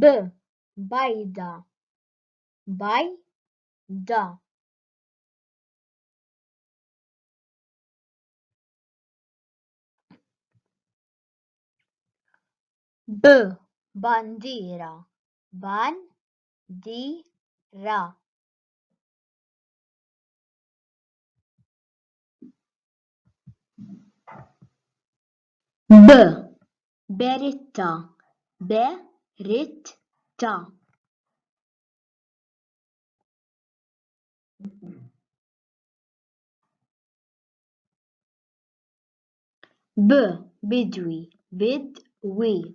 B bajda bajda B bandiera bandira B Beritta Beritta B Bidwi Bidwi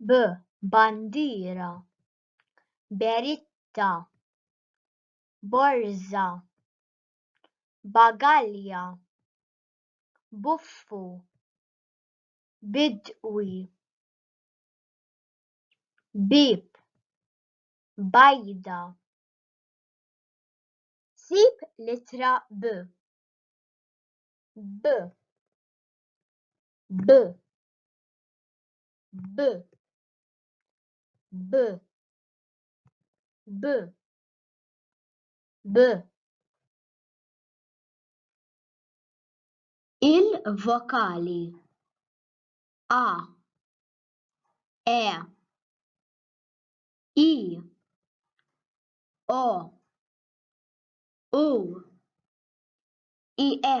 B. Bandiera Beritta Borża Bagalja Buffu Bidwi Bieb Bajda Sib l-ittra B. B. B. b b b b il-vokali a e i o u i e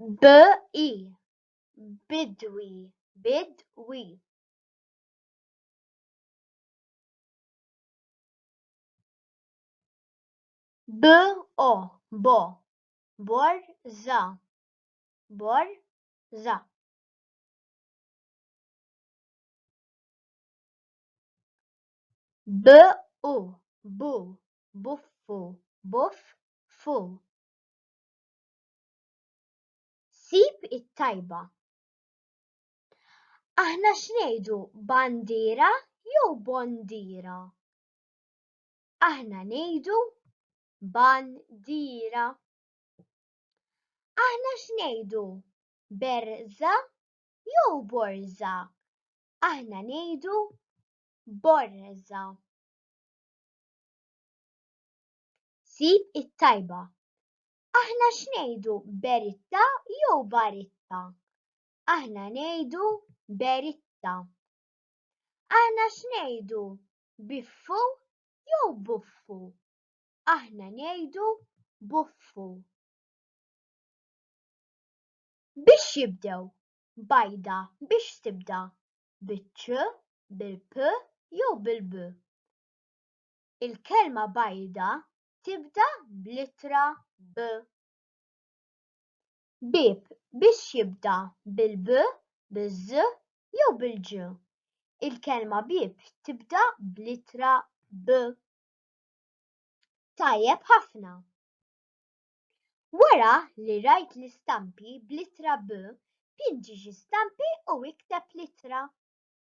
BI, bidwi, bid-wi. BO, bo, borza, borza. BU, bu, buffu, buff, fu. Sib it-tajba. Aħna x'ngħidu bandiera jew bondiera? Aħna ngħidu bandiera. Aħna x'ngħidu berża jew borża? Aħna ngħidu borża. Sib it-tajba. Aħna x'ngħidu Beritta jew Baritta? Aħna ngħidu Beritta. Aħna x'ngħidu Biffu jew Buffu? Aħna ngħidu Buffu. Biex jibdew bajda biex tibda biċ bil-p jew bil-b. Il-kelma bajda tibda bl-ittra B. Bieb biex jibda bil-B, biz jew bil-Ġ. Il-kelma bieb tibda bl-ittra B. Tajjeb ħafna! Wara li rajt l-istampi bl-ittra B, pinġi xi stampi u ikteb l-ittra.